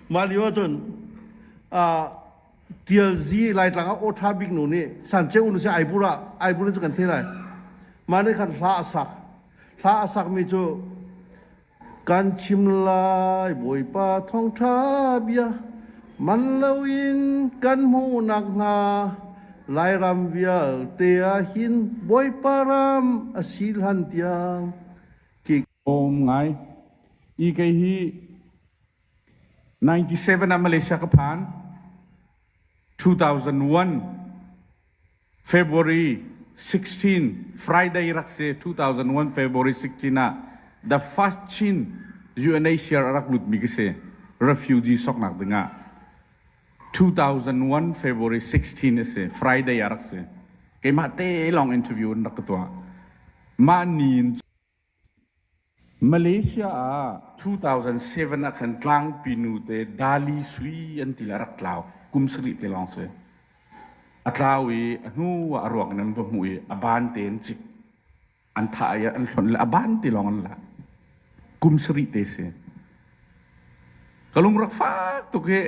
Mah lio ahcun Tial Zi Laitlang ah aw ṭha biknu nih Sanceu nu sin Aibur ah Aibur in cu kan theih lai. Mah nih khan hla a sak. Hla a sakmi cu Kan chim lai Bawipa thawngṭha bia man loin kan hmuh nakhnga Lairam vialte ah hin Bawipa ram a si hlan tiang. Awm ngai. I kei hi 97 ah Malaysia ka phan. 2001 February 16 Friday rak si 2001 February 16 ah the first Chin UNHCR a rak lutmi ka si refugee soknak dingah 2001 February 16 a si Friday a rak si keimah te lawng interview in rak ka tuah mah ni in Malaysia ah two-thousand-seven ah khan tlangpi nute Dali Sui an ti le a rak tlau kum sarih te lawng si. A tlau i a hnu ah a ruak in an va hmuh i a ban te an cik. An thah i an hlonh le a ban te lawng an lak. Kum sarih te si. Ka lungrak fak tuk hi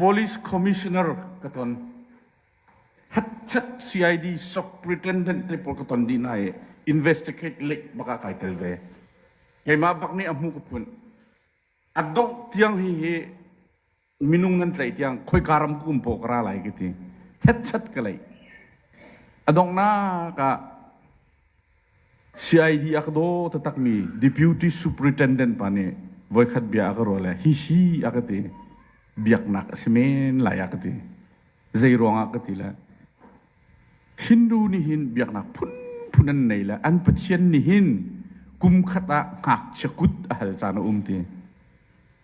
police commissioner ka ton. Hatchat CID sok pretendent te pawl ka ton dih hna i investigate lek bak ah kai tel ve. Keimah bak nih a hmu ka phun. A dongh tiang hi hi minung nan tlaih tiang khoika ram kum paw ka ra lai ka ti. Hatchat ka lei. A dongnak ah CID a ka daw taktakmi Deputy Superintendent pa nih voikhat bia a ka ruah le hihi a ka ti. Biaknak a si men lai a ka ti. Zei ruangah ka ti le Hindu nih hin biaknak phunphun an nei le an Pathian nih hin kum khat ah ngakchia kut a hal caan a um ti.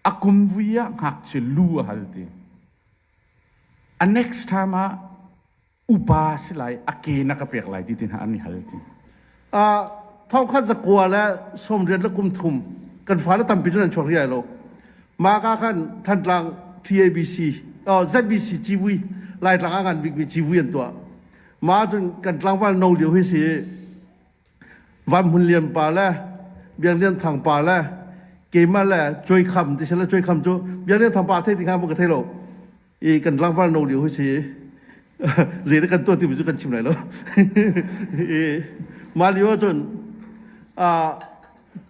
A kum vui ah ngakchia lu a hal ti. A next time ah upa si lai a ke na ka pek lai ti ti hna an i hal ti uh, thongkhat zakua le somriat le kum thum kan fale tampi cu nan chuak riai lo ma ka khan thantlang tabc uh, zbc civui laitlang a kan bikmi civui an tuah ma cun kan tlangval no lio hi si Van Hmun Lian pa le Biak Lian Thang pa le keimah le Cuai Kham ti si le Cuai Kham cu Biak Lian Thang pa thei ti hnga maw ka thei lo i kan tlangval no lio hoi si le na kan tuah timi cu kan chim lai lo i mah lio ahcun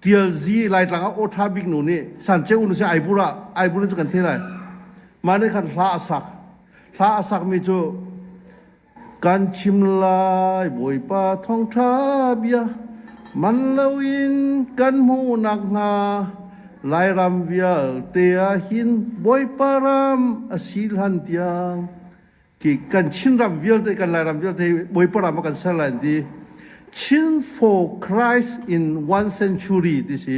tial zi laitlang ah aw ṭha bik nu nih sanceu nu si aibur ah aibur in cu kan thei lai mah nih khan hla a sak hla a sakmi cu kan chim lai bawipa thawngṭha bia man loin kan hmuhnak hna lairam vialte ah hin bawipa ram a si hlan tiang ki kan Chin ram vialte kan lairam vialte bawipa ram a kan ser lai an ti Chin for Christ in one century ti si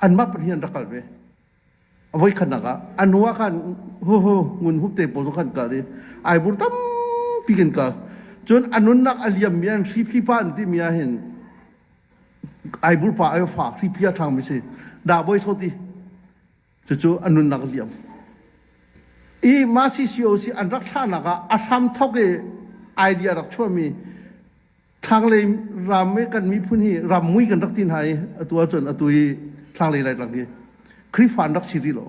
anmah pahnih an rak kal ve voi khatnak ah an hnuah khan ho ho ngun hup te pawl khan kal i ai bur tampi kan kal cun a nunnak a liam mi an hri phi pa an ti mi ah hin ai bur pa ai fa hri phi a ṭhang mi si dah boi sot i cucu a nunnak liam i ma CCOC an rak thlahnak ah a hram thok i idea rak chuah mi thlanglei ram i kan miphun hi rammui kan rak ti hna i atu ahcun atu i thlanglei laitlang hi Khrihfa an rak si rih lo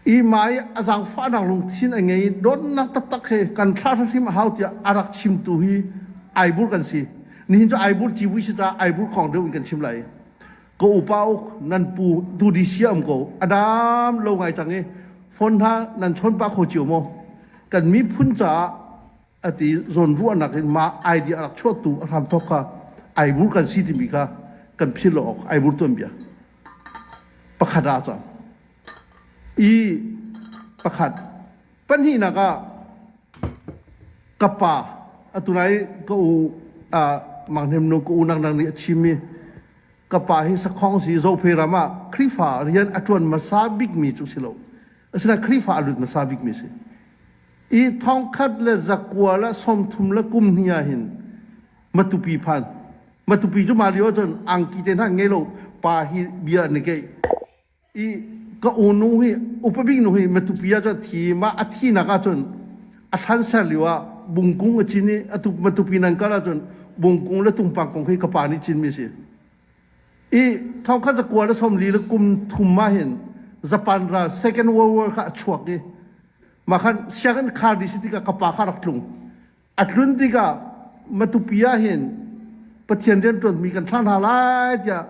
i mai a zaangfahnak lungthin a ngei donnak taktak he kan thla hrim a hau tiah a rak chimtu hi aibur kan si nihin cu aibur civui si caah aibur kong deuh in kan chim lai ko upa uk nan pu du di sia um ko adam lo ngai cang i phone hna nan chon pa kho cio maw kan miphun caah ati zawnruahnak in mah idea rak chuahtu a hram thok kha ai bur kan si timi kha kan phil awk ai bur tuan bia pakhat ah cang i pakhat pahnihnak ah ka pa atunai ka u manghnem no ka u nang nang nih a chimmi ka pa hi sakhong si zope ram ah khrifa rian a tuan masa bikmi cu si lo asina khrifa a lut masa bikmi si i thongkhat le zakual ah sawmthum le kum hnih ah hin matupi phan matupi cu mah lio ahcun angki te hna ngei lo pa hi bia an i keih i ka unu hi upabik nu hi matupi ahcun thi mah a thinak ahcun a thlan ser lio ah bungkung a cin i a tu matupi nan kal ahcun bungkung le tungpang kong hi ka pa nih cinmi a si i thongkhat za kual a somli le kum thum ma hin japan ral second world war kha a chuak i ma khan sianginn khar dih si tikah ka pa kha rak tlung a tlun tikah matupi ah hin pathian rian ṭuanmi kan thlah hna lai tiah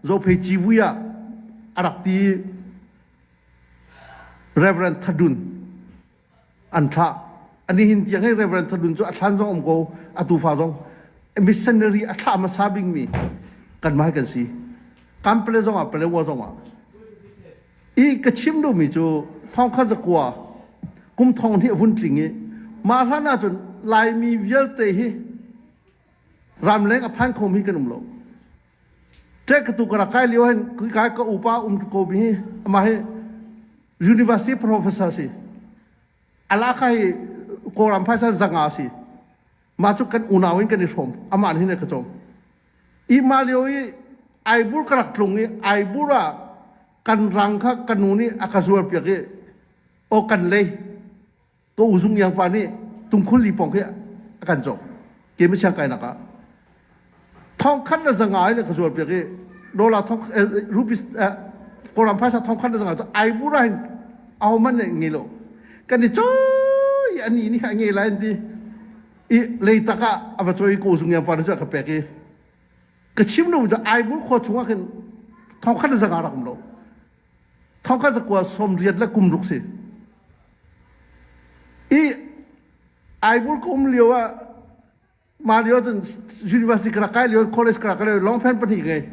zophei civui ah a rak ti reverend thadun an thlah a nihin tiang hi Reverend Thadun cu a thlan zong um ko a tufa zong missionary a thlah hmasa bingmi kanmah kan si kan pale zong ah pale wa zong ah i ka chim duhmi cu thongkhat zakua kum thong hi a vun tling i mah hlan ahcun laimi vialte hi ramleng a phan khom hi kan um lo ṭek ka tu ka rak kai lio hen kui kai ka upa um ko mi amah hi university professor si ala kai koram phaisa zanga si ma chu kan unau in kan i hrom aman hin ka chom i ma lio i aibur ka rak tlung i aibur a kan rang kha kanu nih aka zuar piak i o kan lei Ko Zung Yang pa nih Tungkhul Li pawng khi a kan cawk ke masiang kainak ah thong khat na zanga ai le ka zual piak i dola thong rupees koram phaisa thong khat na zanga cu ai bura hin au man le nge lo kan i choi ani ni ha nge la an ti i leitak ah a va choi Ko Zung Yang pa na cu ka pek i ka chim lo cu ai bur kho chungah khin thong khat na zanga rak um lo Thongkhat zakua som riat le kum ruk si. I Aibur ka um lio ah mah lio cun university ka rak kai lio college ka rak kai lio longpant pahnih ka ngei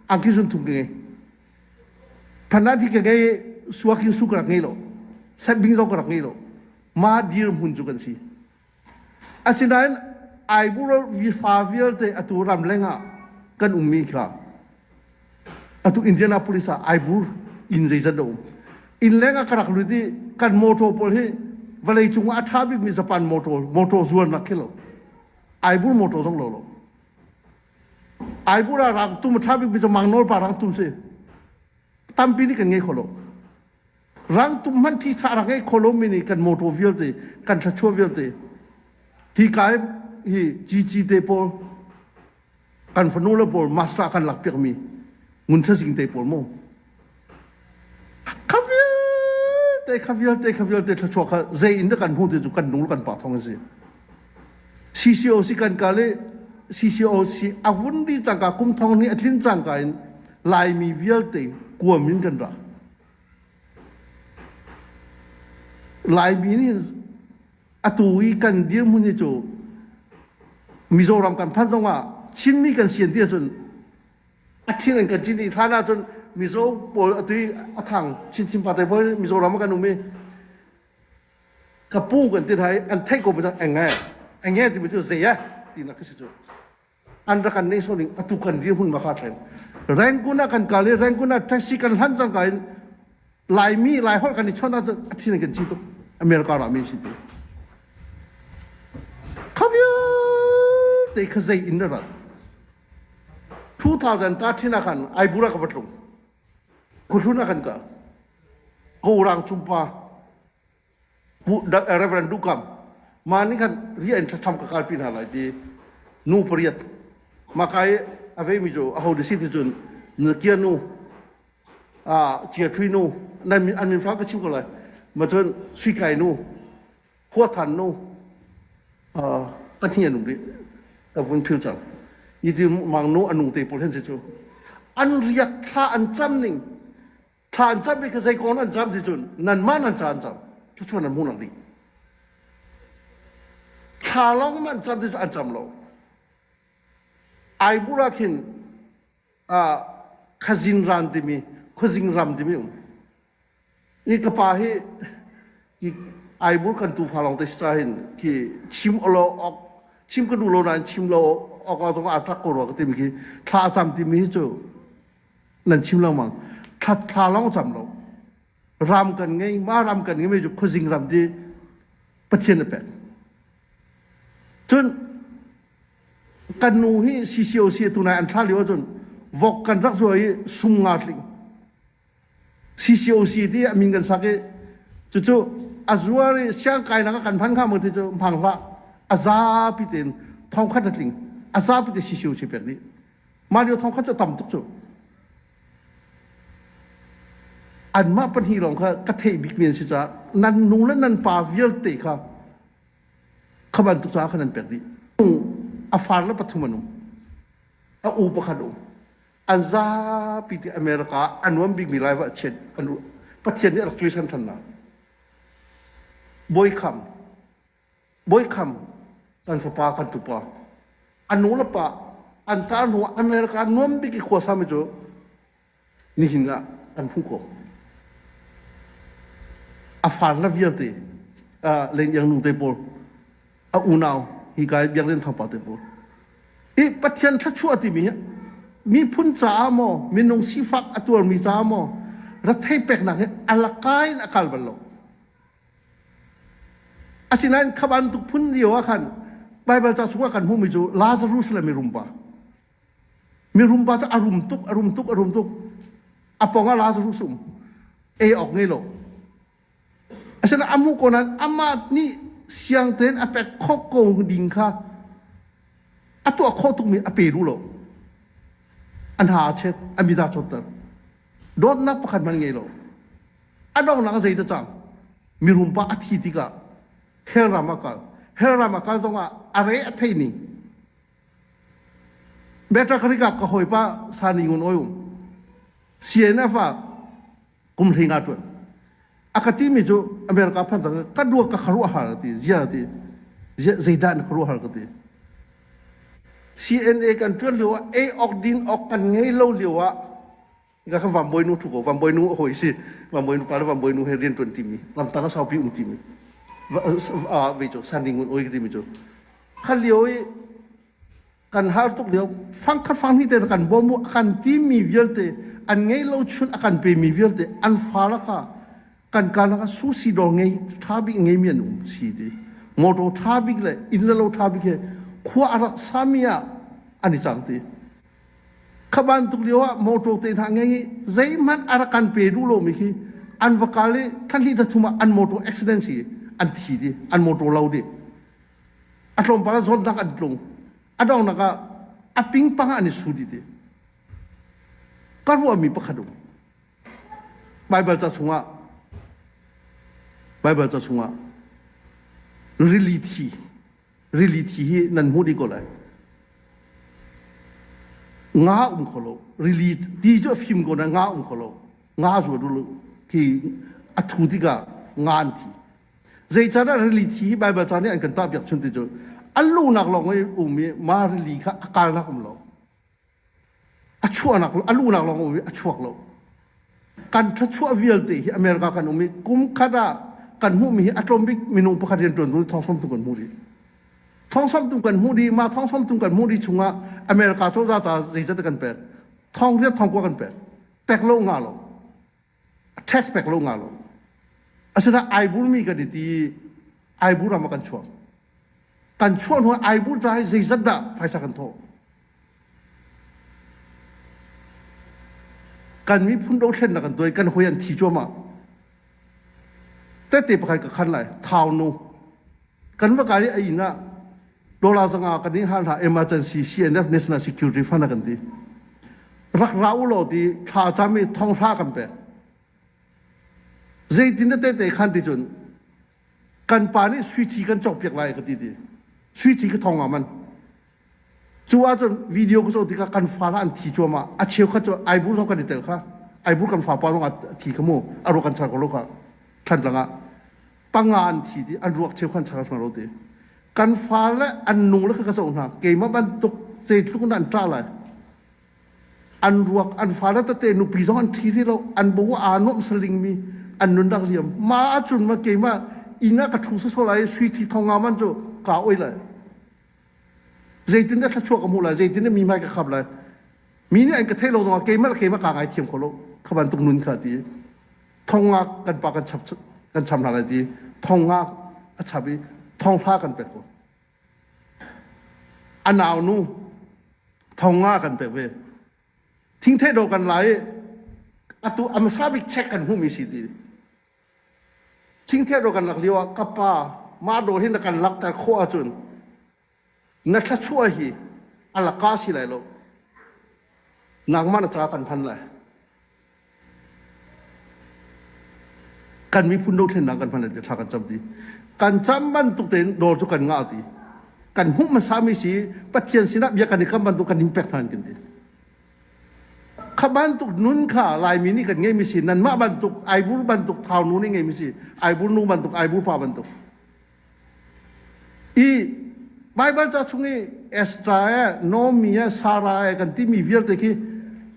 angki sun thum ka ngei phandan thi ka ngei suakin su ka rak ngei lo setbing zong ka rak ngei lo ma dir hmun cu kan si Asinain Aiburo vifa vialte atu ramleng ah kan ummi kha atu Indianapolis ah Aibur inn zeizat a um. Innleng ah ka rak lut i kan motor pawl hi vawleicung ah a ṭha bikmi Japan motor motor zualnak khi lo Aibur motor zong lo lo. Aibur ah rang tum a ṭha bikmi cu Mang Nawl pa rang tum si. Tampi nih kan ngei kho lo. Rangtum hmanh thitha rak ngei kho lomi nih kan mawtaw vialte, kan thluachuah vialte, hi ka hi cici te pawl kan fanu le pawl master kan lak piakmi ngun thazing te pawl maw kha vialte kha vialte kha vialte thluachuah kha zei in kan hmu ti cu kan nung kan pa thong a si CCOC kan ka le CCOC a vun di tangka kum thong ni a tlin cangka in laimi vialte kuam in kan ra Laimi nih atu i kan dirhmun hi cu Mizoram kan phanh zongah Chinmi kan si an ti ahcun a thin an kan cin i hlan ahcun Mizo pawl atu i a thang chinchin party pawl hi Mizoram ah kan um i ka pu kan ti hna i an theih ko banyak eng e, eng e timi cu zei e tinak ka si cu. an rak kan neih sawh ding atu kan dirhmun ma kha tlen rangoon ah kan kal i rangoon ah taxi kan hlan cangka in laimi lai holh kan i chawnh ahcun a thin kan ci tuk america ram in si tu te kha zei in na rat 2013 ah khan aibura ka vatlung kuhlun ah kan ka gorang chumpa that reverend du kam ma ning khan ri an tham ka kal pi na lai ti nu pariat ma kai ave mi jo a ho de si ti chun na kia nu a chia thui nu nan an min fa ka chim ko lai ma chun sui kai nu khua than nu a patni anung ri ta vun phil chang ni ti mang nu anung te pol hen se chu an riak thla an cham ning thlan cam i ka zei kong an cam ti cun nanmah nan caan cam cucu nan hmu lo ding thla lawng man cam ti cu an cam lo ai bula khin uh, khazin ran timi khazing ram timi um i ka pa hi i ai bul kan tu fa long te sta hin ki chim olo ok chim ka du lo na chim lo ok ok a thak ko ro ka timi ki thla cam timi hi chu nan chim lengmang thathla lawng cam lo ram kan ngei ma ram kan ngei cu khuazing ram ti pathian a pek cun kan nu hi CCOC tu nai an thla lio cun vok kan rak zuwa i sung nga tling CCOC ti amin kan sak i cucu azuar i siang kai nak kan phan kha mo ti cu mangva azapi tein thong khat tling azapi te CCOC pek ni Mah lio thawng khan cu tam tuk cu anmah pahnih lawng kha ka theih bik mi an si caah nan nu le nan pa vialte kha kha bantuk caah khan an pek dih a far le pathum an um a u pakhat um an zapi ti america ah a nuam bikmi lai va chiat an u pathian nih a rak cuai san than hna bawi kham Bawi kham kan fapa kan tupa an nu le pa an tar hnu an le ka nuam bik i khua sami cu nihin ah kan hmuh ko a far la vialte len iang nu te pawl a unau hi kai biak len thawpa te pawl i pathian thluachuah timi hi miphun caah maw minung sifak a tuarmi caah maw rathei peknak hi ala kai in a kal bal lo Asinain kha bantuk phun lio ah khan Baibal ca chungah kan hmuhmi cu Lazarus le mirumpa. Mirumpa cu a rum tuk, a rum tuk, a rum tuk. A pong ah Lazarus um. Ei awk ngei lo. Asinain a hmuh ko nain amah nih siang tein a pek khawh ko ding kha a tuah khawh tukmi a pe duh lo. A hna a chet, a mit aa cawtter. dawtnak pakhat hmanh ngei lo a donghnak a zei te cang mirum pa a thi tikah helram a kal helram a kal zongah a re a thei ning beta kharika ka hoipa sani ngun oium cnf a kumhringa tuan a ka timi cu America phan sang ka dua ka kharuah har ti ziar ti zeidah na kharuah har ka ti CNA kan tuan lio ah ei ok din ok kan ngei lo lio ah ga ka vamboy nu thu ko vamboy nu hoi si vamboy nu pa vamboy nu he rian tuan timi lamtang a saupi um timi ve cho sandi ngun oi timi cho khalio i kan har tuk lio fang khat fang hnih te kan bawm u kan timi vialte an ngei lo chun a kan pe mi vialte an fa la ka kan ka la ka susi dor ngei tha bik ngei mi an um si ti motor tha bik le inn le lo tha bik he khua arak sami ah ani chang ti khaban tuk lio ah motor te na ngei zei man arakan pe du lo mi hi an vakali thali thuma an motor accident si an thi di an motor lo di A tlawmpal ah zawtnak an tlung. A donghnak ah a pingpang ah an i su dih ti. Ka ruahmi pakhat um. Baibal ca chungah Baibal ca chungah rili thi rili thi hi nan hmuh dih ko lai. Nga um kho lo. Rili ti cu a fim ko na nga um kho lo. Nga zuat u ti a thu tikah nga an thi. Zeicanah rili thi hi Baibal ca nih an kan tahpiak chun ti cu a lunak lawng i um i mah rili kha a kalnak um lo a chuahnak a lunak lawng um i a chuak lo kan thluachuah vialte hi America kan um i kum khat ah kan hmuhmi hi a tlawm bik minung pakhat rian ṭuan tu thawngsamtu kan hmuh dih thawngsamtu kan hmuh dih mah thawngsamtu kan hmuh dih chungah America cozah caah zeizat kan pek thawng riat thawng kuak kan pek pek lo nga lo tax pek lo nga lo asinain ai burmi kan i ti ai bur ah kan chuak kan chuah hnu ai bur ca hi zeizat dah phaisa kan thawh kan miphun dothlen na kan tuai kan hoi an thi cuamah tete pakhat ka khan lai thau no kan va kai i a inn ah dollar zanga kan i hal hna emergency CNF National Security Fund a kan ti rak ra u law ti thla cam i thonghra kan pek zeitin da tete khan ti cun kan pa nih suici kan cawk piak lai ka ti ti suici ka thong ah man Cu ahcun video ka cawh tikah kan fa an thi cuahmah. A cheukhat cu ai bur zong kan i tel kha. Ai bur kan fapa lawng ah a thi kha mu. A ruak an char ko lo kha. Thantlang ah. Panga an thi ti, an ruak cheukhat an char hna lo ti. Kan fa le an nu le kha ka zoh hna. Keimah bantuk zeitluk in an ṭa lai. An ruak, an fa le tete nupi zong an thi rih lo. An bo aa nuamh salingmi an nun rak liam. Mah ahcun ma keimah inn ah ka ṭhu sawsawh lai i sui thi thong nga man cu kaa oi lai. zeitindah thluachuah ka hmuh lai zeitindah mi hmai ka khap lai mi nih an ka theih lo zongah keimah le keimah kaa ngaithiam kho lo kha bantuk nun kha ti thongak kan pa kan chap kan cham hna lai ti thongak a chap i thonghla kan pek ko a nau nu thonga kan pek ve thingthei do kan lai atu amsa bik check kan hmu mi si ti Thingthia ro kan lak lio ah ka pa mah dawr hi na kan lakter khawh ahcun na thluachuah hi a laka si lai lo. Nangmah na caah kan phan lai. Kan miphun dothlennak kan phan lai thla kan cam ti. Kan cam bantuk tein dawr cu kan ngah ti. Kan hmuh hmasa mi si Pathian sinah bia kan i kam bantuk kan in pek hna an kin ti. Kha bantuk nun kha Laimi nih kan ngeimi si. Nanmah bantuk aibur bantuk thaunu nih ngeimi si. Aibur nu bantuk, aibur pa bantuk. I Baibal ca chung i Estra e, Nomi e, Sara e kan timi vialte khi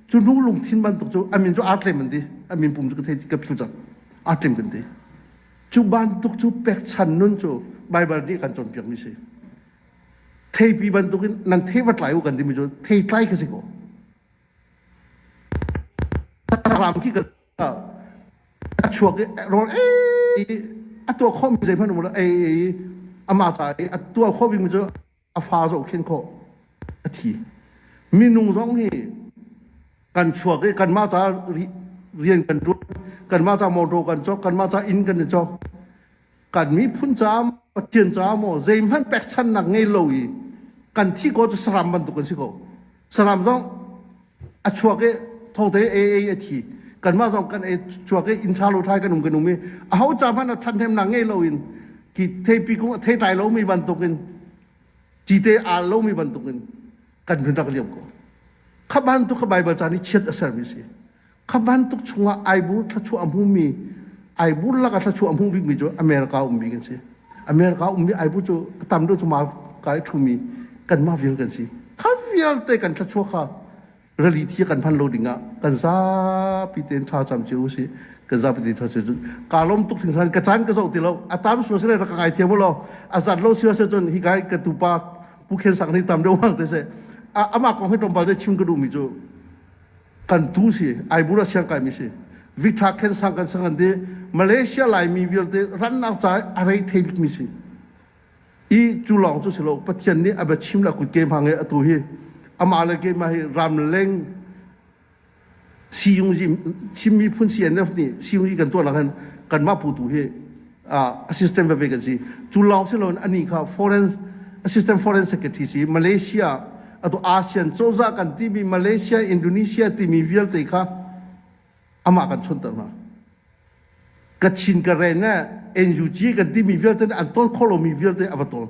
cu nu lungthin bantuk cu amin cu aa tlem an ti. Amin pum cu ka thei ka phil cang. Aa tlem kan ti. Cu bantuk cu pekchan nun cu Baibal nih kan cawnpiakmi si. Theipi bantuk in nan thei vat lai u kan timi cu thei tlai kha si kaw. Ram ki ka chuak i rol ei a tua khom mi zeihmanh umar ei ei ama ta i a tua khom mi cu a fa zo khen kho a thi minung zong hi kan chuak i kan ma ta rian kan tuan kan ma ta motor kan chok kan ma ta inn kan cok kan miphun caah pathian caah maw zeihmanh pekchannak ngei lo i kan thi ko cu saram bantuk kan si ko saram zong a chuak i thote AA a thi kanmah zong kan ei chuak i in thalo thai kan um kan um i a ho ca hmanh a ṭhathnemnak ngei lo in ki theipi kung a thei tlai lomi bantukin cite al lomi bantukin kan hun rak liam ko kha bantuk kha Baibal caan i chiat a sermi si Kha bantuk chungah aibur thluachuah a hmumi, aibur lakah thluachuah a hmu bikmi cu America um bik an si. America ummi aibur cu a tam deuh cu mah ka i ṭhumi kanmah vial kan si. Kha vialte kan thluachuah kha rali thi kan hman lo dingah kan zapi tein tha cam cio usih. Kan zapi tein tha cio cu. Kaa lawm tuk hring hran. Ka caan ka zoh ti lo. A tam sua seh rak ka ngai thiam law. A zat lo sua seh cun hi kai ka tupa Pu Khen Sang hi tam deuh hang te seh. Amah kong hi tlawmpal te chim ka duhmi cu kan tu si aibura siang kai mi si victha khen sang kan sang an de malaysia laimi vialte rannak ca a rei thei bik mi si i cu lawng cu silo pathian nih a bachim la kut ke ma nge atu hi ama le ke ma hi ramleng siyung ji chim mi phun cnf nih siyung ji kan tuah nak hin kan mah pu tu hi a system veve kan si cu lawng si loin ani kha foreign assistant foreign secretary si Malaysia atu ASEAN cozah kan timi Malaysia Indonesia timi vialte kha amah kan chonter hna Kachin Karen ne NUG kan timi vialte an ton kholomi vialte ava ton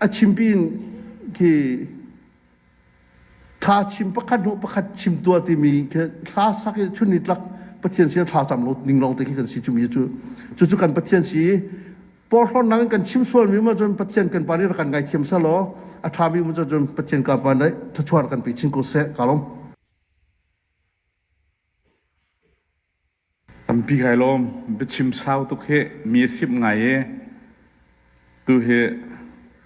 a chimpin khi thla chim pakhat hnu pakhat chim tua timi khi thla sak i chun ni tlak pathian sin thla cam lo ning long te khi kan si chumi cu cu cu kan pathian si porhlon nang kan chim sual mi ma cun pathian kan pani ra kan ngai thiam sa lo a tha mi ma cun pathian ka pa nai thachuar kan pi chin ko se kalom Tampi kai lawm. Biachim sau tuk hi mi a simh ngai i tuhi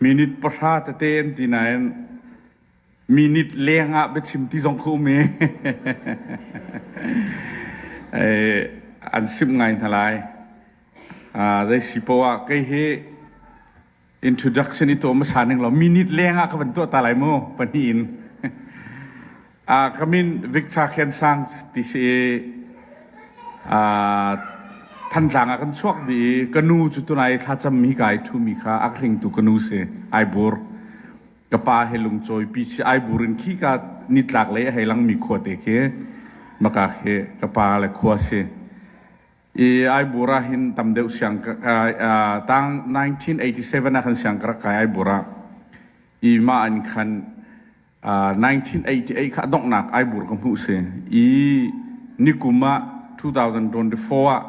minute pahra tete an ti nain minute leng ah biachim ti zong ka um i an simh ngai hna lai. Zei si poah kei hi Introduction i tom hra ning lo minute leng ah ka van tuah ta lai mu pahnih in a uh, kamin Victor Khen Sang ti si a thanzang a kan chuak di ka nu cu tunai thla cham mi kai thu mi kha ak ring tu ka nu se ai bur ka pa he lung choi pi si ai burin khi ka nitlak le hei lang mi khua te ke maka he ka pa le khua se i Aibura hin tam deuh siang tang 1987 ah khan siang karak kai Aibura i mah in khan 1988 kha donghnak Aibur ka hmuh si i nikum ah 2024 ah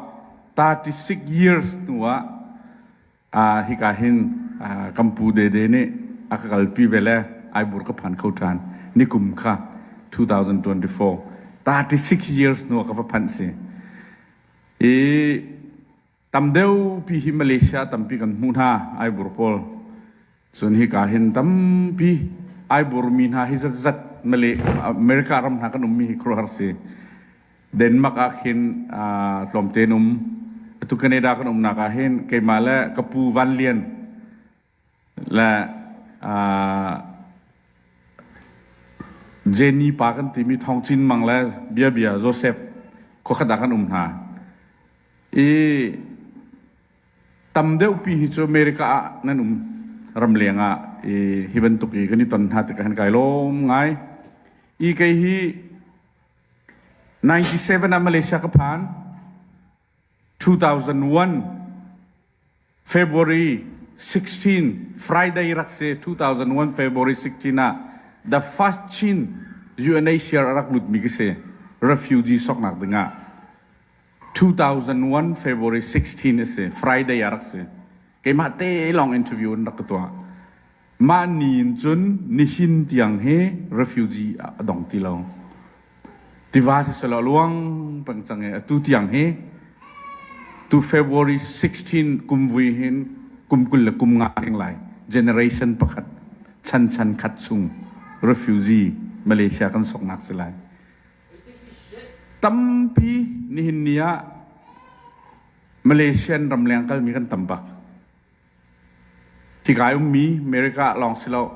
36 years hnu ah hika hin kampu dede nih a ka kalpi ve le ai bur ka phan kho ṭhan nikum kha 2024 36 years nu ka va phanh si i tam deupi hi Malaysia tampi kan hmu hna ai bur pawl Cun hika hin tampi ai burmi hna hi zatzat Malay America ram hna kan ummi hi khuruhar si. Denmark ah khin tlawmte in um. Atu Canada kan umnak ah hin keimah le ka pu Van Lian le Jenny pa kan timi Thong Cin Mang le bia bia Joseph khuakhat ah kan um hna. I Tam deuhpi hi cu America ah nan um ramleng ah i hi bantuk i kan i ton hna tikah kan kai lawm ngai. I kei hi 97 ah Malaysia ka phan. 2001 February 16 Friday rak si 2001 February 16 ah the first Chin UNHCR rak lutmi ka si refugee soknak dingah 2001 February 16 a si, Friday a rak si. Keimah te lawng interview in rak ka tuah. Mah ni in cun nihin tiang hi refugee a dong ti lo. Tiva si selaw luang pang cang e. Atu tiang hi tu February 16 kum vui hin kum kul le kum nga ding lai generation pakhat chan chan khat chung refugee Malaysia kan soknak si lai. tampi nihin ni ah Malaysian ramleng kalmi kan tam bak. Hikai ummi America lawng si lo,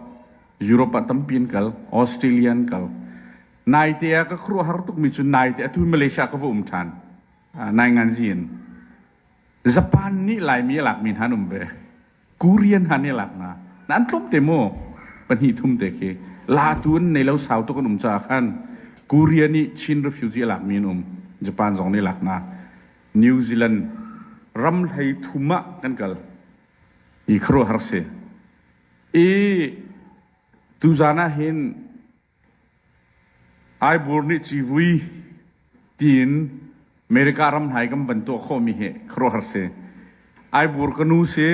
Europe ah tampi an kal, Australia an kal. Naite a ka khruah har tukmi cu naite a tu Malaysia ka va um ṭhan. Uh, nai ngan zin. Japan nih Laimi a lakmi hna an um ve. Korean han ne lak na nan tlum te mu pahnih thum te khi la tu in nei lo sau tuk an um caah khan Korea nih Chin refugee lak mi an um Japan zong ne lak na New Zealand ram hlei thum ah kan kal i kharuahar si i tuzan ah hin Ai bur nih civui tiin America ram hlai kan van tuah khawhmi hi khuaruahhar si. Ai bur ka nu si.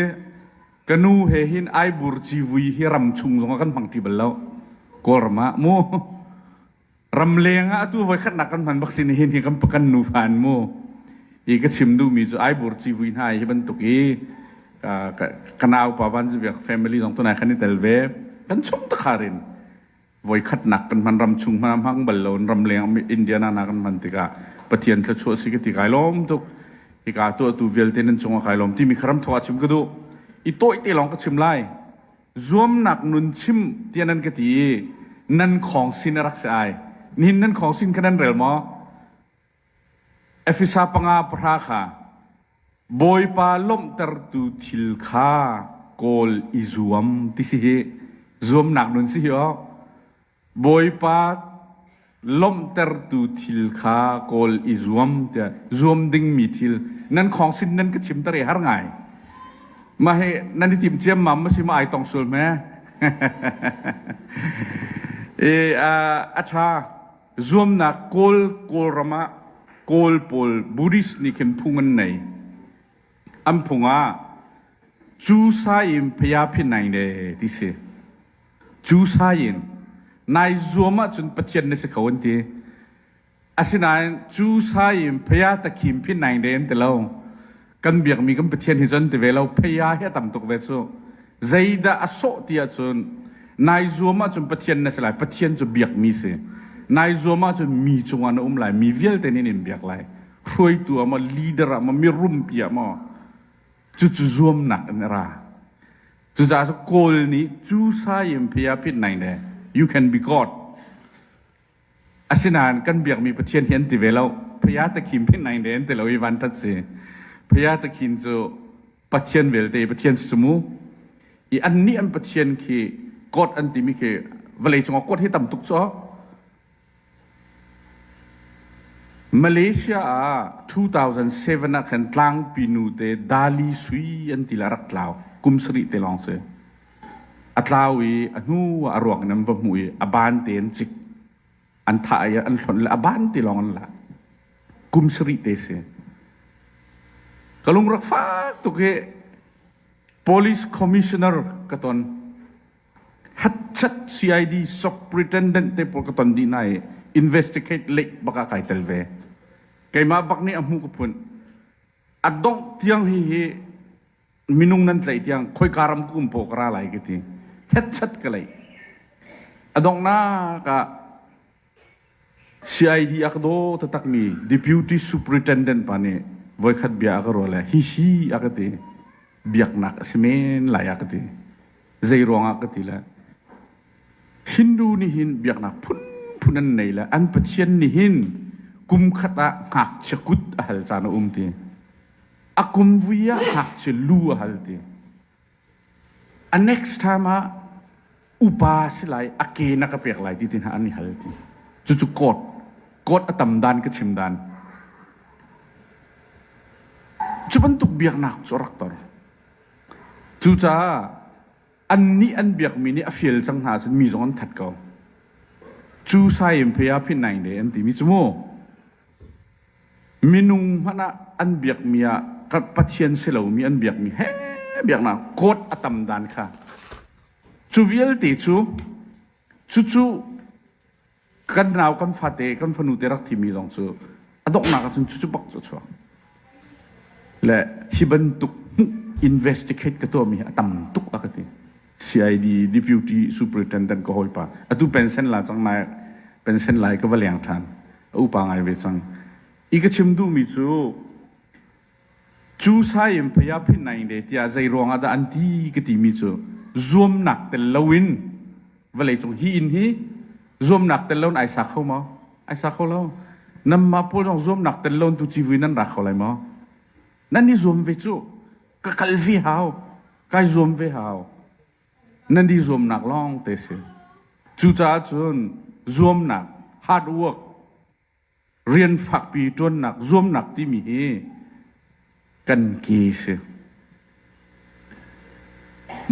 Ka nu he hin ai bur civui hi ram chung zongah kan hmang ti bal lo. Kawlram ah mu. Ramleng ah atu voi khatnak kan hman bak sin hin hi kan, kan nufa an mu. I ka chim duhmi cu ai bur civui hna hi bantuk i ka, ka nau pa van cu biak family zong tunai kan i tel ve. Kan chum takharin voikhatnak kan hman ram chung hmana hmang bal lo in ram leng Indiana na kan hman tikah Pathian thluachuah si ka ti kai lawm tuk hika tuah tu vialte nan cungah kai lawm timi kharam thawga chim ka du i tawih te lawng ka chim lai zuamnak nun chim tia nan ka ti i nan khong sin a rak si ai nihin nan khong sin kha nan rel maw Efesa panga pahra kha Bawipa lawmhtertu thil kha kawl i zuam ti si hi zuamnak nun si hi aw. Bawipa lawmhtertu thil kha kawl i zuam tiah zuam dingmi thil nan khawng sin nan ka chimter i har ngai. Mah hi nan i tim ciammam ma si ma ai tong sul hme. I a ṭha Zuamnak Kawl Kawlram ah Kawl pawl Buddhist nih khin phung an nei. An phung ah cu sa in phaya phin nai le ti si. Cu sa in nai zuam ahcun Pathian na si kho an ti. Asinain cu sa in phaya takhim phin nai le an ti lo. kan biakmi kan Pathian hi cun ti ve lo pheiya hi a tam tuk ve cu zeidah a sawh ti ahcun nai zuam ahcun Pathian na si lai Pathian cu biakmi si nai zuam ahcun mi cungah na um lai mi vialte nih in biak lai hruaitu ah maw leader ah maw mirumpi ah maw cucu zuamnak in a ra cucaah Kawl nih cu sai in phia phit nai ne you can be God Asinain kan biakmi Pathian hi an ti ve lo. Phaya Takhim phin nain an ti lo i vanṭhat si. Phaya Takhin cu Pathian vialte, Pathian sumu, i annih an Pathian khi God an timi khi vawlei cungah God hi tam tuk cu. Malaysia ah 2007 ah khan tlangpi nu te Dali sui an ti le a rak tlau kum sarih te lawng si. A tlau i a hnuah a ruang in an va hmuh i a ban tein cik an thah i an hlonh le a ban ti lawng an lak kum sarih te si. Ka lungrak fak tuk hi police commissioner ka ton hatchat CID superintendent te pawl ka ton dih hna i investigate leik bak ah kai tel ve. Keimah bak nih a hmu ka phun. A dongh tiang hi hi minung nan tlaih tiang khoika ram kum paw ka ra lai ka ti hetset ka lei adongnak ah CID ak do tatak mi deputy superintendent pa nih voikhat bia aka rual hi hi aka ti biaknak a si men lai aka ti zei ruang ah ka ti le hindu ni hin biaknak phun phun an nei le an pathian ni hin kum khat ah ngak chia kut a hal caan a um ti a kum vui ah hak cu lu a hal ti. A next time ah upa si lai a ke na ka pek lai ti tinha an i hal ti. Cucu court court a tam dan ka chim dan. Cu bantuk biaknak cu a rak ton. Cucaah an nih an biakmi nih a fial cang hna cun mi zong an that ko. Cu sai in phei a phin nai ne an timi cu mu. Minung hmanh ah an biakmi ah kan Pathian si lomi an biakmi he biaknak code a tam dan kha cu vialte cu cucu kan nau kan fate kan fanute rak thimi zong cu a donghnak ahcun cucu bak cu a chuak le hi bantuk investigate ka tuahmi hi a tam tuk a ka ti CID Deputy Superintendent ka hawipa, atu pension la cang naih, pension lai ka va leng ṭhan, a upa ngai ve cang. I ka chim duhmi cu, cu sai in Phaya Phit Naing De tiah zei ruang ah dah an ti ka timi cu, zuamnak tel loin vawlei cung hi inn hi zuamnak tel loin ai sa kho maw? Ai sa kho lo. Nanmah pawl zong zuamnak tel loin tu civui nan ra kho lai maw? Nan i zuam ve cu. ka kal hi hau kai zuam ve hau nan i zuamnak lawng te si cucaah cun zuamnak hard work rian fakpi ṭuannak zuamnak timi hi kan ke si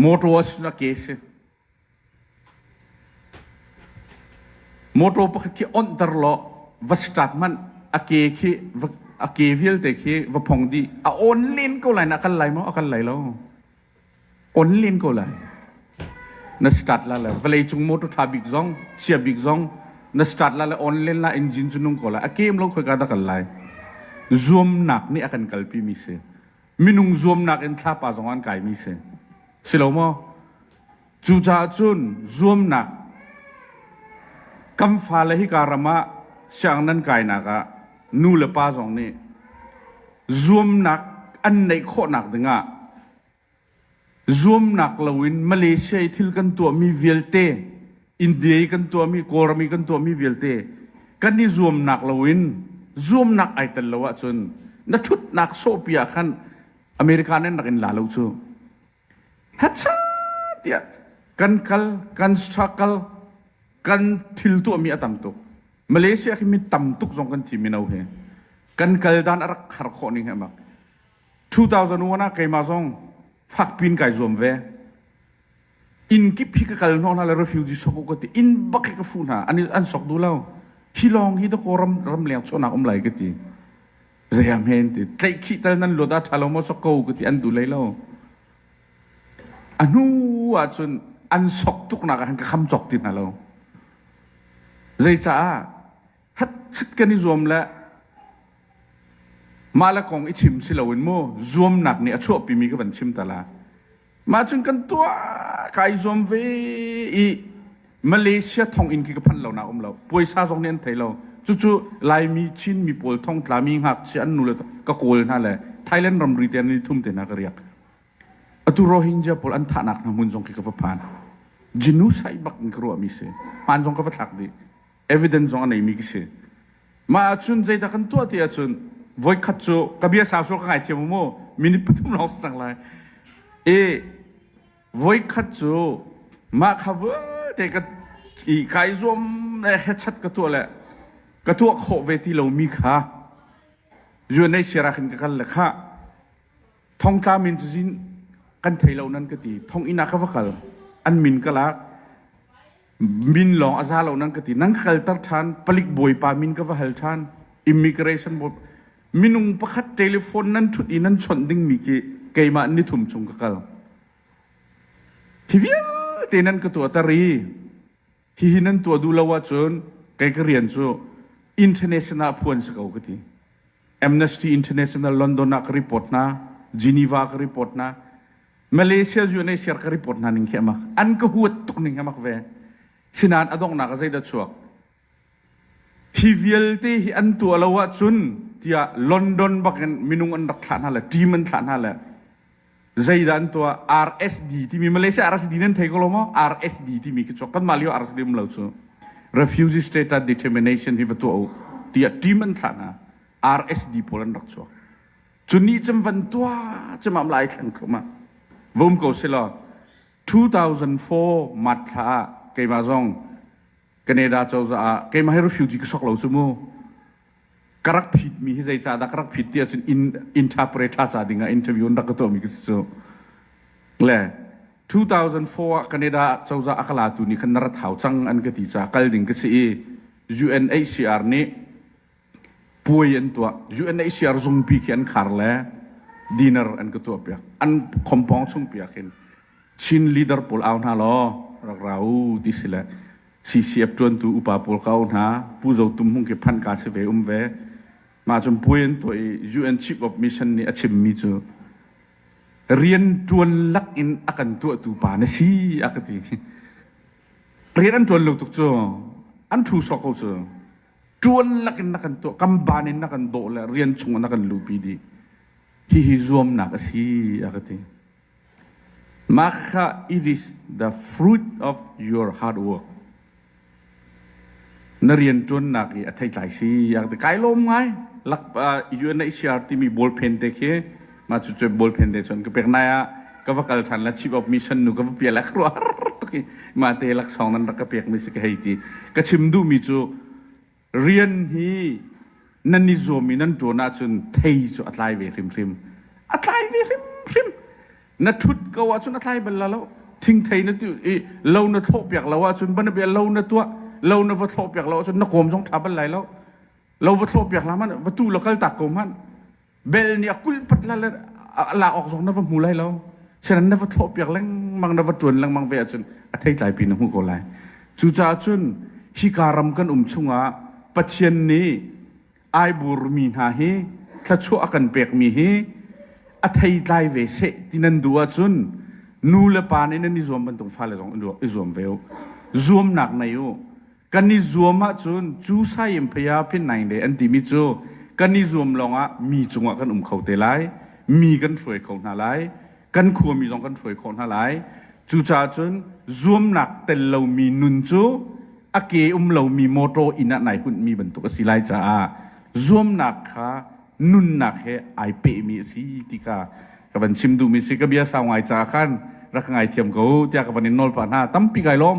mawṭaw na ke si Motor pakhat khi onhter law va strut hmanh a ke khi a ke vialte khi va phong dih. A on len ko lai na a kal lai maw? A kal lai lo. On len ko lai. Na start la lai. Vawlei cung motor tha bik zong, chia bik zong na start la lai on len la engine cu nung ko lai. A kem long khoi ka da kal lai. Zuamnak nih a kan kalpi mi si. minung zuamnak in thlapa zong an kaimi si si lo maw cucaah cun zuamnak kan fale hika ram ah siang nan kainak ah nu le pa zong nih zuamnak an neih khawhnak dingah zuamnak loin Malaysia i thil kan tuahmi vialte India i kan tuahmi Kawlram i kan tuahmi vialte kan i zuamnak loin zuamnak ai tel lo ahcun na ṭhutnak sawhpi ah khan America nih rak in la lo cu hacha tiah kan kal kan struggle kan thil tuahmi a tam tuk Malaysia khi mi tam tuk zong kan thi mino he kan kal dan a rak khar khawh ning he bak 2001 ah keimah zong fakpiin kai zuam ve inn kip hi ka kal hnawh hna le refugee sok u ka ti inn bak hi ka fuh hna an an sok duh lo hi lawng hi ta ko ram ram leng chonak um lai ka ti zayam hen ti tlaih khi tal nan luat a tha lo mo sok ko ka ti an du lai lo a hnu ah cun an sok tuk nak ah han ka kham chok ti hna lo zei caah Hatchit kan i zuam le mah le kong i chim si loin mu zuamnak nih a chuahpimi ka van chim ta la. Mah cun kan tuah ka i zuam ve i Malaysia thonginn khi ka phanh lo nak um lo. Puaisa zong nih an thei lo. Cucu Laimi, Chinmi pawl thongtlami ngakchia an nu le ka kawl hna le Thailand ramri te an i thum te hna ka riak. Atu Rohingya pawl an thahnak hna hmun zong khi ka va phan. Genocide bak in ka ruahmi si. Hmaan zong ka va thlak dih. evidence zong a neimi ka si. Mah ahcun zeidah kan tuah ti ahcun voikhat cu ka bia sau sawh ka ngaithiam u mu minute pathum lawng si cang lai. I voikhat cu mah kha vialte ka i kai zuam le hechat ka tuah le ka tuah khawh ve ti lomi kha UNHCR ah khin ka kal le khah thongtla min cu zin kan thei lo nan ka ti thong inn ah ka va kal an min ka lak min lawng a za lo nang ka ti nang ka kalter ṭhan palik bawipa min ka va hal ṭhan immigration board minung pakhat telephone nan ṭhut i nan chawnh dingmi khi keimah nithum chung ka kal hi vialte nan ka tuahter i hihi nan tuah duh lo ahcun kei ka rian cu international phuan si ko ka ti Amnesty International London ah ka report hna, Geneva ka report hna, Malaysia UNHCR ka report hna ning khi amak. An ka huat tuk ning amak ve. Sinan adongnak a zeidah chuak? Hi vialte hi an tuah lo ahcun tiah London bak in minung an rak thlah hna le team an thlah hna le zeidah an tuah RSD timi Malaysia RSD nan thei ko lo maw RSD timi khi cu kanmah lio RSD um lo cu refugee status determination hi va tuah u tiah team an thlah hna RSD pawl an rak chuak cu ni cem van tuah cemam lai thlang kho ma vom ko selaw 2004 mat thla ah keimah zong Canada cozah ah keimah hi refugee ka sok lo cu mu ka rak phit mi hi zeicah dah ka rak phit ti ahcun in, interpret ha ca ding ah interview in rak ka tuah mi khi si cu le 2004 ah Canada cozah a ka latu nih khan na rat hau cang an ka ti ca kal ding ka si i UNHCR nih puai an tuah UNHCR zungpi khi an khar le dinner an ka tuah piak an khompong chung piak hin Chin leader pawl au hna law rak ra u ti si le CCF ṭuantu upa pawl ka u hna, Pu Zo Tum Hmung khi phanh kaa si ve um ve. Mah cun puai an tuah i UN Chief of Mission nih a chimmi cu rian ṭuan lak in a kan tuahtu pa na si a ka ti. Rian an ṭuan lo tuk cu an ṭhu sok ko cu ṭuan lak in na kan tuah kamban in na kan dawh le rian chung na kan luhpi dih hihi zuamnak a si a ka ti. Makha it is the fruit of your hard work. Na rianṭuannak i a theitlai si a ti kai lawm ngai. Lak UNHCR timi ballpen te khi ma cu cu ballpen te cun ka pek nai ah ka va kal ṭhan la Chief of Mission nu ka va pial a ka ruah tuk i ma te laksawng nan rak ka pekmi si ka hei ti. Ka chim duhmi cu rian hi nan i zuam i nan ṭuan ahcun thei cu a tlai ve hrimhrim a tlai ve hrimhrim na ṭhut ko ahcun a tlai bal lo thingthei na tu i lo na thlawh piak lo ahcun bana bia lo na tuah lo na va thlawh piak lo ahcun na kawm zong ṭha bal lai lo lo va thlawh piak la man va tu la kal tak ko man Bel nih a kulpat la a lak awk zong na va hmu lai lo. Sinan na va thlawh piak lengmang na va tuan lengmang ve ahcun a theitlai pi na hmuh ko lai. Cucaah cun hika ram kan um chungah Pathian nih ai burmi hna hi thluachuah a kan pekmi hi a theitlai ve seh ti nan duh ahcun nu le pa nih nan i zuam bantuk fale zong i zuam ve u. Zuamnak nei u. kan i zuam ahcun cu sayim phaya phinnaing de an timi cu kan i zuam lawngah mi cungah kan um kho te lai mi kan hruai kho hna lai kan khuami zong kan hruai khawh hna lai cucaah cun zuamnak tel lomi nun cu a ke um lomi motor inn ah nai hunmi bantuk a si lai caah zuamnak kha nunnak he ai pehmi a si ti kha ka van chim duhmi si ka bia sau ngai caah khan rak ngai thiam ko tiah ka van in nawl pa hna tampi kai lawm